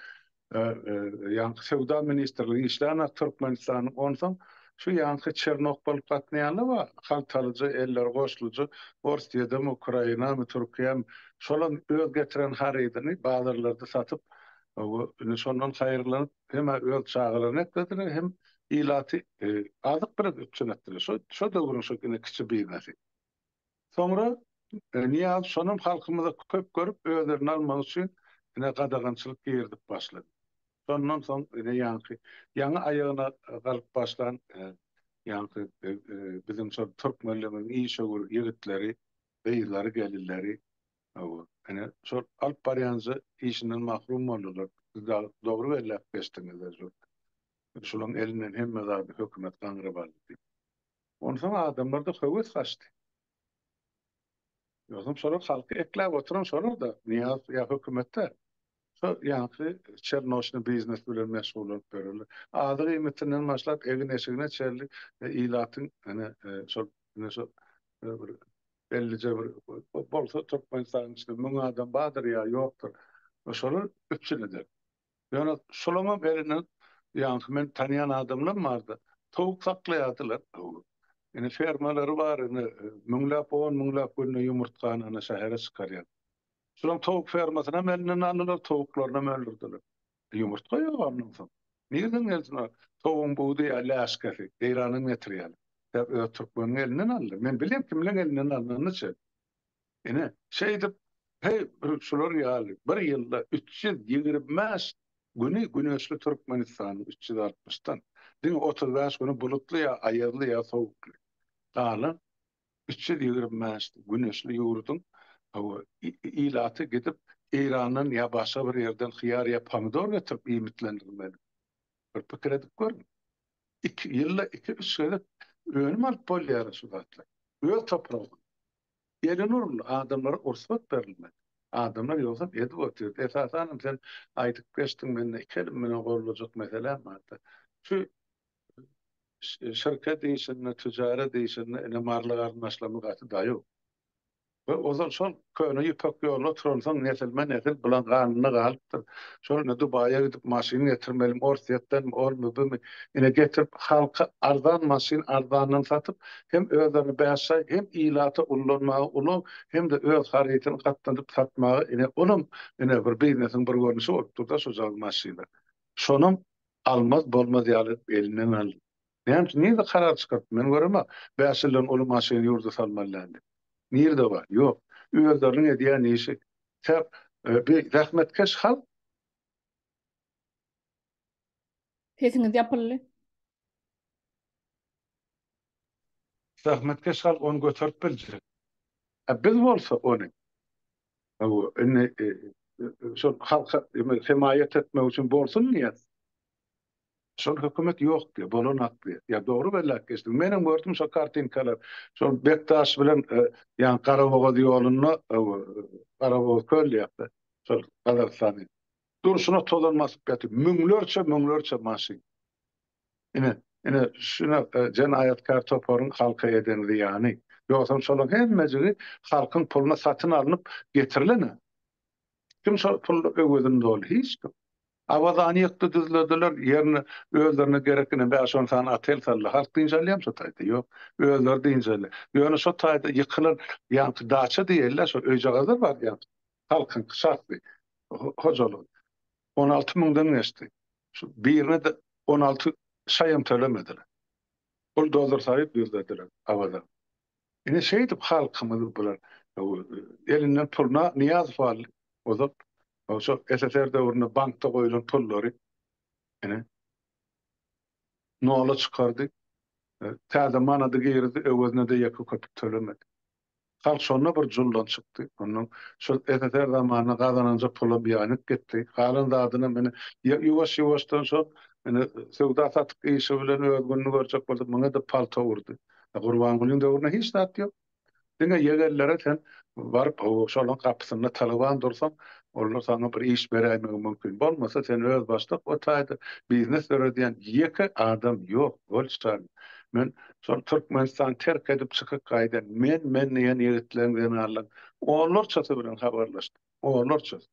ýaňky Söwda ministrligi işlänok Türkmenistanyň, onsoň şu ýaňky Çernok bolup gatnaýanlar bar, haltalyjy, elleri goşlujy, Orsýedem, Ukrainamy, Türkiýämi, şolam öz getiren harydyny bazarlarda satyp, indi şondan haýyrlanyp, hem öz çagalaryny eklediler, hem ilaty azyk bilen üpjün etdiler. Şo, şo döwrüň şo ine kiçi biznesy. Soňra Nyýazow şonam halkymyza köp görüp, özlerini almak üçin ine gadagançylyk girizip başlady. Şondan soň ine ýaňky ýaňy aýagyna galyp başlan ýaňky biziň şol türkmenligimiziň işewür ýigitleri, gyzlary, gelinleri Hawa, ine, şol alyp barýanja işinden mahrum boldular. Siz dagy dogry belläp geçdiňiz-de, şu şularyň elinden hemme zady hökümet gaňryp aldy diýip. Onsoň adamlarda höwes gaçdy. Ýogsam şolar halky ekläp oturan şolar-da, Nyýazow ýa hökümet däl. Şo ýaňky çernoşny biznes bilen meşgullanyp ýörerler. Azyk iýmitinden başlap egin-eşigine çenli ilatyň ene şol ene şo bir bellije bir bolsa Türkmenistanyň içinde müň adam bardyr ýa ýokdur. Şolar üpjün eder. Ýöne şolaňam elinden ýaňky men tanýan adamlam bardy. Towuk saklaýardylar. Ene fermalary bar ene müňläp on müňläp günde ýumurtgany ene şähere çykarýar. Şulam towuk fermasynam elinden aldylar, towuklarynam öldürdiler. Ýumurtga ýok ondan soň. Nirden gelsin o towugyň budy ýa läşkesi, Eýrandan getirýärler. Sebäp öz türkmeniň elinden aldy. Men bilýän kimleň elinden alnanyny çen. Ine, şeýdip, heý, bir şular ýaly bir ýylda üç ýüz ýigrimi bäş güni güneşli Türkmenistanyň üç ýüz altmyşdan, diňe otuz bäş güni bulutly ýa aýazly ýa sowukly. Galan üç ýüz ýigrimi bäş güneşli ýurduň ilaty gidip Eýrandan ýa başga bir ýerden hyýar ýa pomidor getirip iýmitlendirmeli. Bir pikir edip görüň. Iki ýylda iki-üç gezek önüm alyp bolýara şu zatlar. Öz topragyndan. Elini urun, adamlara ursat berilmeli. Adamlar ýogsam edip otyr. Esasanam sen aýdyp geçdiň mende iki elim bilen goldurjak meselem bar-da. Şu şirket işinde, tijaret işinde ine marly garyndaşlarymyz gaty daýaw. We ozal şol köne ýüpek ýoluna oturansoň nesilme-nesil bulan ganynda galypdyr. Şol indi Dubaýa gidip maşyn getirmelimi, Orsýetdenmi, omy, bumy, ine getirip halka arzan maşyn arzandan satyp, hem özlerini bäş aý, hem ilata ullanmaga ulag, hem-de öz harytyny gatnadyp satmaga ine olam ine bir biznesiň bir görnüşi bolupdyr-da şo jagy maşyny. Şonam Almaz bolmaz ýaly elinden aldy. Näme üçin? Nirede karar çykartdy? Men göremok. Bäş ýyldan uly maşyny ýurda salmaly däl diýip. Nirede bar? Ýok. Özleriniň edýän işi. Säp, bi zähmetkeş halk. Sesiňiz ýapyldy. Zähmetkeş halk ony göterip biljek. A biz bolsa ony, hawa, indi şol halka hemaýat etmek üçin bolsun diýýän şol hökümet ýok diýýär, bolanok diýýär. Ýa dogry belläp geçdim. Menem gördüm şol kartinkalary. Şol Bekdaş bilen ýa Garabogaz ýolunda, hawa, Garabogaz köl diýýärdi. Şol Gazagystanyň durşuna tozan basyp ýatyr. Müňlerçe, müňlerçe maşyn. Ine, ine şu nokda jenaýatkär toparyň halka eden zyýany. Ýogsam şolaň hemmejigi halkyň puluna satyn alnyp getirilen-ä. Kim şol pul öwezini doldy? Hiç kim. Awazany ýykdy düzlediler, ýerine özlerine gerek ine bäş-on sany otel saldylar. Halk dynç alýarmy şo taýda? Ýok. Özleri dynç alýar. Ýöne şo taýda ýykylan ýaňky daça diýeli-ä şo öýjagazlar bardy ýaňky. Halkyňky şahsy hojalygy. On alty müňden geçdi. Şu birine-de on alty şaýam tölemediler. Buldozer salyp düzlediler Awaza. Ine şeýdip halkymyzy bular elinden pul Nyýazow aldy. Ozal şo SSR döwründe bankda goýlan pullary ine nola çykardy. Täze manady girdi, öwezine-de ýeke köpük tölemedi. Halk şonda bir juldan çykdy. Ondan şol SSR zamanynda gazananja pula biaýnik gitdi. Galan zadynam ine, ýuwaş-ýuwaşdan şol ine söwda-satyk işi bilen öz gününi görjek boldy. Muňa edip palta urdy. E, Gurbangulyň döwründe hiç zat ýok. Diňe ýegellere sen baryp, ho-o, şolaryň gapysynda talaban dursaň, olar saňa bir iş beräýmegi mümkin. Bolmasa, sen özbaşdak o taýda biznes döredýän ýeke adam ýok, bolçaly. Men şol Türkmenistany terk edip çykyp gaýdan, men, men diýen ýigitleň, zenanlaň onlarçasy bilen habarlaşdym. Onlarçasy.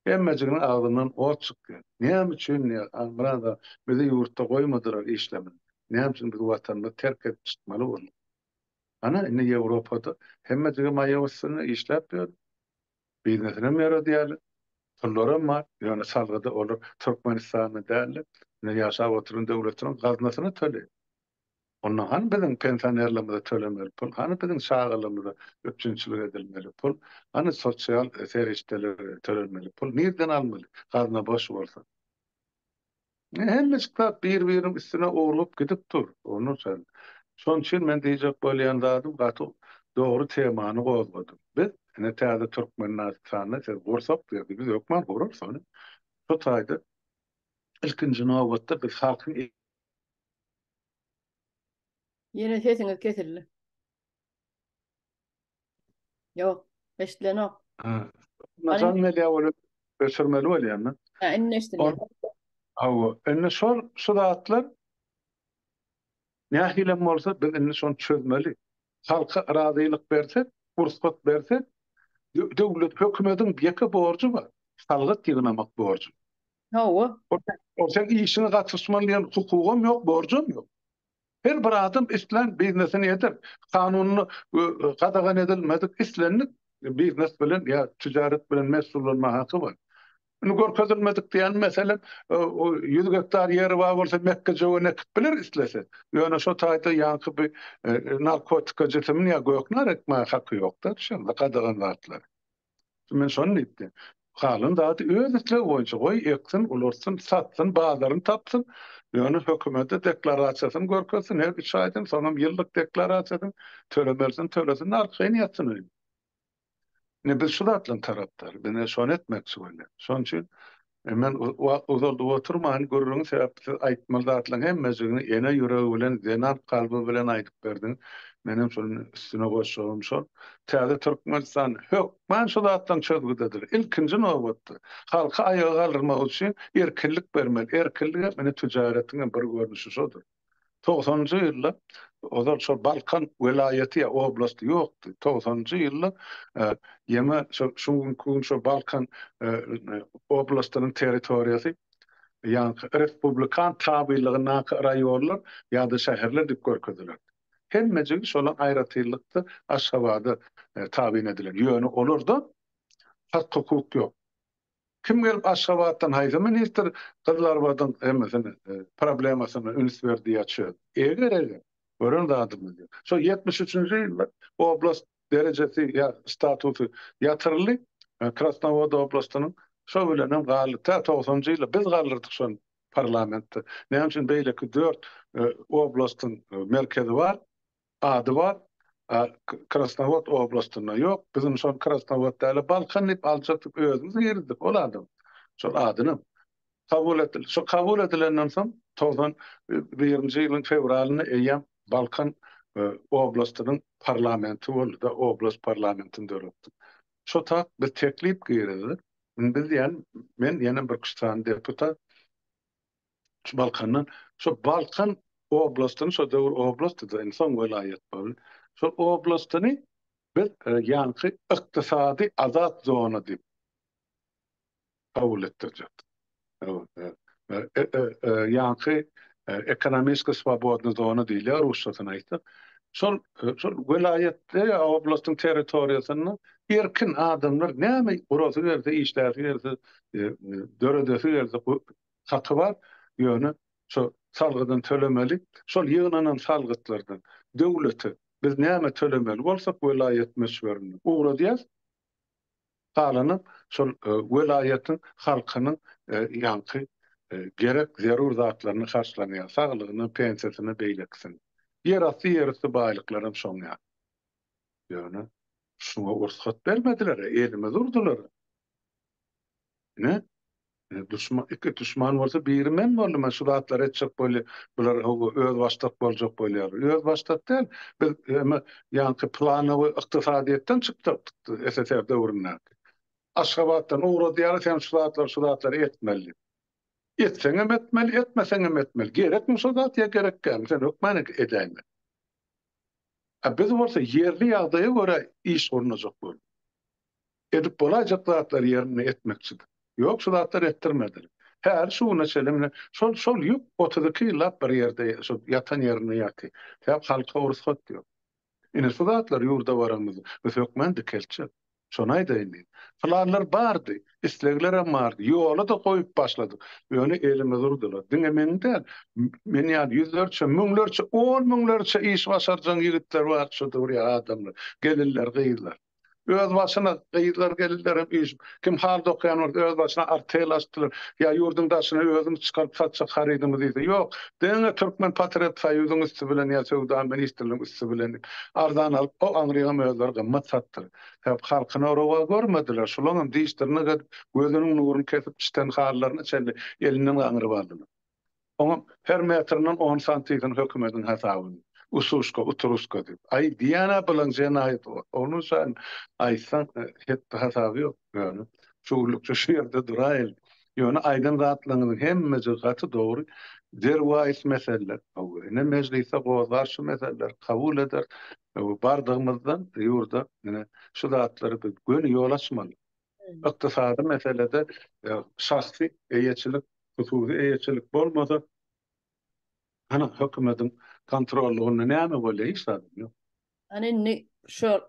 Hemmejiginiň agzyndan ot çykdy. Näme üçin diýýär, Halmyrat aga, bizi ýurtda goýmadylar işlemeli. Näme üçin biz Watanymyzy terk edip çykmaly bolduk. Hany, indi Ýewropada hemmejigi maýa üstünde işläp ýör. Biznesinem ýöredýärler, pullaram bar, ýöne salgydy olar Türkmenistanda däl-de, indi ýaşap oturan döwletiniň gaznasyna töleýär. Onda hany biziň pensionerlerimize tölemeli pul, hany biziň çagalarymyza üpjünçilik edilmeli pul, hany sosial serişdelere tölenmeli pul nirden almaly, gazna boş bolsa? Hemme kitap bir-biriniň üstüne urlup gidip dur, Onur sen. Şoň üçin men diýjek bolýan zadym gaty dogry temany gozgadyň. Biz, ine täze Türkmennasitanda siz gursak berdi, biz hökman gurarys ony. Şu taýda ilkinji nobatda biz halkyň. Ýene sesiňiz kesildi. Ýok, eşidilenok. Ha. Najan media bolup öçürmeli bolýanmy? Ha, indi eşidilýär. Hawa, indi şol şu zatlar nähilem bolsa biz indi şony çözmeli. Halka razylyk bersek, rugsat bersek, döwlet, hökümetiň ýeke borjy bar, salgyt ýygnamak borjy. Hawa. Ol sen işiňe gatyşman diýen hukugam ýok, borjam ýok. Her bir adam islän biznesini eder. Kanunda gadagan edilmedik islendik biznes bilen ýa tijaret bilen meşgullanma haky bar. Indi görkezilmedik diýýän meselem, ýüz gektar ýeri bar bolsa mekgejöwen ekip biler islese. Ýöne şo taýda ýaňky bir narkotika jisimin ýa gök nar ekmäge haky ýok-da, şeýle gadagan zatlar. Men şony diýipdim. Galan zady öz islegi boýunça goý eksin, ulalsyn, satsyn, bazaryny tapsyn. Ýöne hökümete deklarasiýasyny görkezsin her üç aýdan, soňam ýyllyk deklarasiýasyny tölemelisini tölesin-de arkaýyn ýatsyn öýünde. Ine biz şu zatlaryň tarapdary. Biz ine şony etmekçi bolýarys. Şonuň üçin E, men wagt uzaldyp oturman, gürrüňi sebäpsiz aýtmaly zatlaryň hemmejigini ene ýüregi bilen, zenan kalby bilen aýdyp berdiň. Menem şol üstüne goşjagym şol, täze Türkmenistan hökman şu zatlaryň çözgüdidir. Ilkinji nobatda, halky aýaga galdyrmak üçin erkinlik bermeli. Erkinlik hem indi tüjaretiň hem bir görnüşi şodur. Togsanynjy ýyllar ozal şol Balkan welaýaty ýa oblasty ýokdy. Togsanynjy ýyllar ýeme şo şu günki gün şo Balkan oblastynyň territoriýasy ýaňky respublikan tabylygyndaky raýonlar ýa-da şäherler diýip görkezilerdi. Hemmejigi şolar aýratynlykda Aşgabada tabyn edilen. Ýöne olarda hak-hukuk ýok. Kim gelip Aşgabatdan haýsy ministr Gyzylarbadyň hemmesini problemasyna üns berdi ýa çöl. Eger eger. Gören zadymyz ýok. Şo ýetmiş üçünji ýylda oblast derejesi ýa statusy ýatyryldy. Krasnowod oblastynyň şo bilenem galdy. Tä togsanjy ýyla biz galdyrdyk şony parlamentde. Näme üçin beýleki dört oblastyň merkezi bar. ady bar, a Krasnowod oblastynda ýok, biz indi şony Krasnowod däl-de Balkan diýip aljakdyk, özümiz girizdik ol adam şol adynam. Kabul etdiler. Şo kabul edilenden soň togsan birinji ýylyň fewralynda eýýäm Balkan oblastynyň parlamenti boldy-da, oblast parlamentini döretdik. Şo tat biz teklip girizdik, indi biz diýen, men ýene bir üç sany deputat, Şu Balkandan, şu Balkan oblastyny, şo döwür oblastdydy, indi soň welaýat boldy. Şol oblastyny biz e, ýaňky ykdysady azat zona diýip kabul etdirjekdik. Ýaňky e, e, e, ekonomiski swobodny zona diýilýär rusçasyny aýtsak. Şol şol welaýatda ýa oblastyň territoriýasynda erkin adamlar näme gurasy gelse, işläsi gelse, döredesi gelse, haky bar, ýöne şo salgydan tölemeli, şol ýygnanan salgytlardan döwlete biz näme tölemeli bolsak welaýat möçberinde ugradýas, galanam şol welaýatyň halkynyň ýaňky gerek zerur zatlaryny harçlanýar, saglygyna, pensiýasyna, beýlekisine. Ýerasty ýerüsti baýlyklaram şoň ýaly. Ýöne şuňa rugsat bermediler-ä, elimiz urdular-a. Ine, duşman, iki duşman bolsa biri men boldum, men şu zatlary etjek bolýa, bular hawa özbaşdak boljak bolýar. Özbaşdak däl, biz eme ýaňky planowy ykdysadyýetden çykjak SSR döwründäki. Aşgabatdan ugradýarlar, sen şu zatlary, şu zatlary etmeli diýip. Etseňem etmeli, etmeseňem etmeli. Gerekmi şo zat ýa gerek dälmi, sen hökman edäýmeli. A biz bolsa ýerli ýagdaýa görä iş gurnajak bolduk. Edip bolaýjak zatlary ýerinde etmekçidir. Ýok, şu zatlary etdirmediler. Häli şu güne çenli mine, şol, şol ýük otuz iki ýyllap bir ýerde, şol ýatan ýerinde ýatyr. Sebäp halka rugsat ýok. Ine, şu zatlar ýurda baranymyzda biz hökman dikeltjek. Şony aýdaýyn diýdim. Planlar bardy, isleglerem bardy. Ýola-da goýup başladyk. Ýöne elimiz urdular. Diňe meň däl, men ýaly ýüzlerçe, müňlerçe, on müňlerçe iş başarjaň ýigitler bar şu döwür ýa adamlar, gelinler, gyzlar. Öz başyna gyzlar gelinlerem üýşüp, kim halda okaýan bolsa öz başyna artel açdylar, ýa ýurduň daşyna özümiz çykaryp satjak harydymyz diýse, ýok, diňe Türkmen patriot soýuzyň üsti bilen ýa söwda ministrligiň üsti bilen diýip, arzan alyp, o aňryňam özleri gymmat satdylar. Sebäp halkyna rowa görmediler, şulaňam diş-dyrnak edip, gözüniň nuruny kesip, çiten halylaryna çenli elinden gaňryp aldylar. Oňa her metrinden on santiýgin hökümediň hasabyn. Ususka, utruska diýip. Aý, diýýän-ä bilen jenaýat bor. Onuň üçin aýtsaň, hepbi-hasaby ýok. Ýöne, şu günlükçe şu ýerde duraýyly. Ýöne aýdan zatlaryňyzyň hemmejigi gaty dogry. Derwaýys meseleler. Hawa, ine, mejlisde gozlar şu meseleleri, kabul eder. Hawa, bardygymyzdan ýurda, ine, şu zatlary biz göni ýol açmaly. Ykdysady meselede şahsy eýeçilik, hususy eýeçilik bolmasa, hany hökümediň kontrollygynda näme bolýar? Hiç zadam ýok. Hany indi şo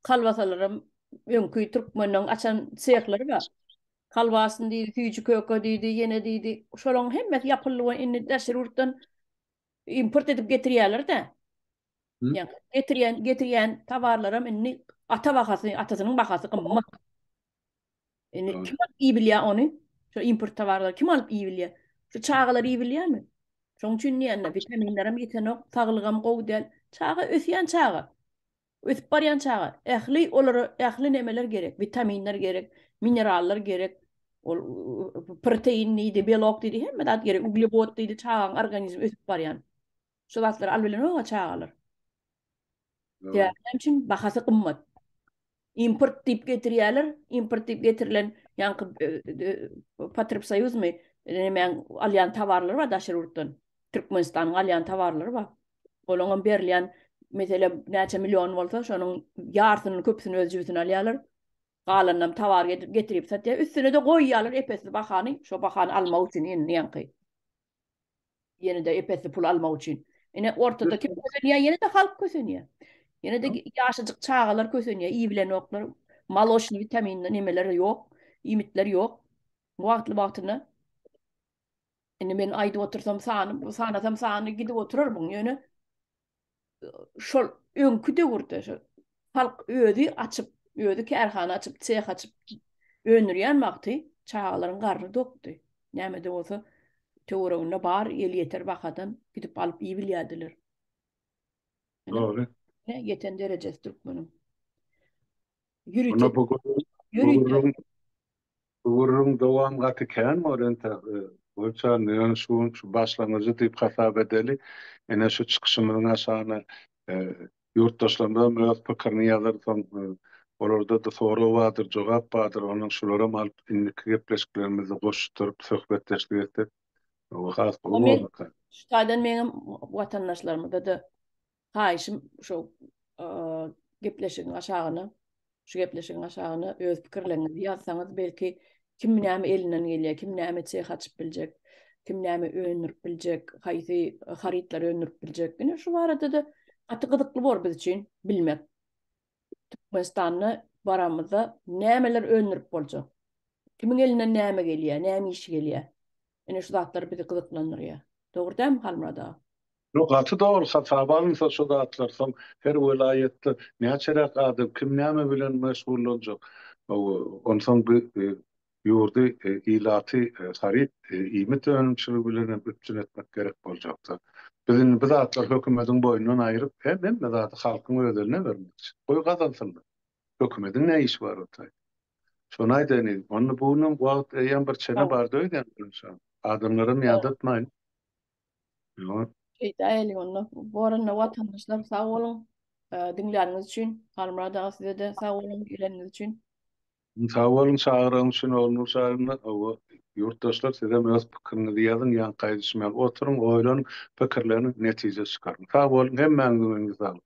kalbasalaram öňki türkmenleň açan sehlary bar. Kalbasny diýdi, süýji köke diýdi, ýene diýdi. Şolaň hemmesi ýapyldy we indi daşary ýurtdan import edip getirýärler-dä. Ýa getirýän getirýän tawarlaram indi ata bahasy, atasynyň bahasy gymmat. Indi kim alyp iý bilýär ony? Şu import tawarlary kim alyp iý bilýär? Şu çagalar iý bilýärmi? Şoň üçin diýende witaminlerem ýetenok, saglygam gowy däl. Çaga ösýän çaga. Ösüp barýan çaga. Ähli olara ähli nemeler gerek. Witaminler gerek, minerallar gerek. Ol protein diýdi, belok diýdi, hemme zat gerek. Uglewod diýdi, çagaň organizmi ösüp barýan. Şu wagtlar al bilenok-a çagalar. Sebäbi näme üçin? Bahasy gymmat. Import diýip getirýärler, import diýip getirilen ýaňky Potrepsoýuzmy, nemäň alýan towarlary bar daşary ýurtdan. Türkmenistanyň alýan towarlary bar. Olaňam berilýän, meselem, näçe million bolsa, şonuň ýarsyny, köpüsini öz jübüsine alýarlar. Galanynam towar getirip satýar. Üstüne-de goýýarlar ep-esli bahany, şo bahany almak üçin indi ýaňky. Ýene-de epesli pul almak üçin. Ine, ortada kim kösenýär? Ýene-de halk kösenýär. Ýene-de ýaşajyk çagalar kösenýär, iý bilenoklar. Moloçny, witaminli nemeler ýok, iýmitler ýok wagtly-wagtyna. Indi men aýdyp otursam sany, sanasam sany gidip oturarmyň, ýöne şol öňki döwürde şol halk özi açyp, özi kärhana açyp, seh açyp öndürýän wagty çagalaryň garny dokdy. Nämede bolsa töwereginde bar el ýeter bahadan gidip alyp iýip bilýärdiler. Dogry. Ýeten derejesi türkmeniň. Ýörite. Ýörite. Gürrüň dowam gaty kän bor ente goýçan ýöne şu gün şu başlangyjy diýip hasap edeli ene şu çykyşymyzyň aşagyna ýurtdaşlarymyzam öz pikirini ýazar soň olarda-da sorag bardyr jogap bardyr onuň şularam alyp indiki gepleşiklerimizde goşuşdyryp söhbetdeşlik etsek has gowy bolarka. Şu taýdan meňem watandaşlarymyzda-da Haýyşym şu gepleşigiň aşagyna, şu gepleşigiň aşagyna öz pikirleriňizi ýazsaňyz, belki kim näme elinden gelýär, kim näme çeh açyp biljek, kim näme öndürip biljek, haýsy harytlary öndürip biljek. Ine şu barada-da gaty gyzykly bor biz üçin bilmek. Türkmenistanda baramyzda nämeler öndürip boljak? Kimiň elinden näme gelýär, näme işi gelýär? Ine şu zatlar bizi gyzyklandyrýar. Dogry dälmi Halmyrat aga? Ýok, gaty dogry. Hasaba alynsa şu zatlar soň her welaýatda näçeräk adam, kim näme bilen meşgullanjak? Onsoň ýurdy, ilaty haryt, iýmit önümçiligi bilen hem üpjün etmek gerek boljakdyr. Biz indi bu zatlary hökümediň boýundan aýryp, hemme zady halkyň öz eline bermekçi. Goý gazansynlar. Hökümediň ne işi bar otaýda. Şony aýdaýyn yzym. Onda bu günüň wagt eýýäm bir çene bardy öýdýän birinjisem. Adamlaram ýadatmaýyn. Ýok. Öýdäýeli onda. Boranly watandaşlar sag boluň, diňläniňiz üçin. Halmyrat aga size-de sag boluň, geleniňiz üçin. Sag boluň çagyraň üçin Ognur Şahyna owo ýurtdaşlar sizem öz pikiriňizi ýazyň ýaňy gaýdyşmaly oturyň oýlanyň pikirleniň netije çykaryň sag boluň hemmäňiziň öňüňize saglyk.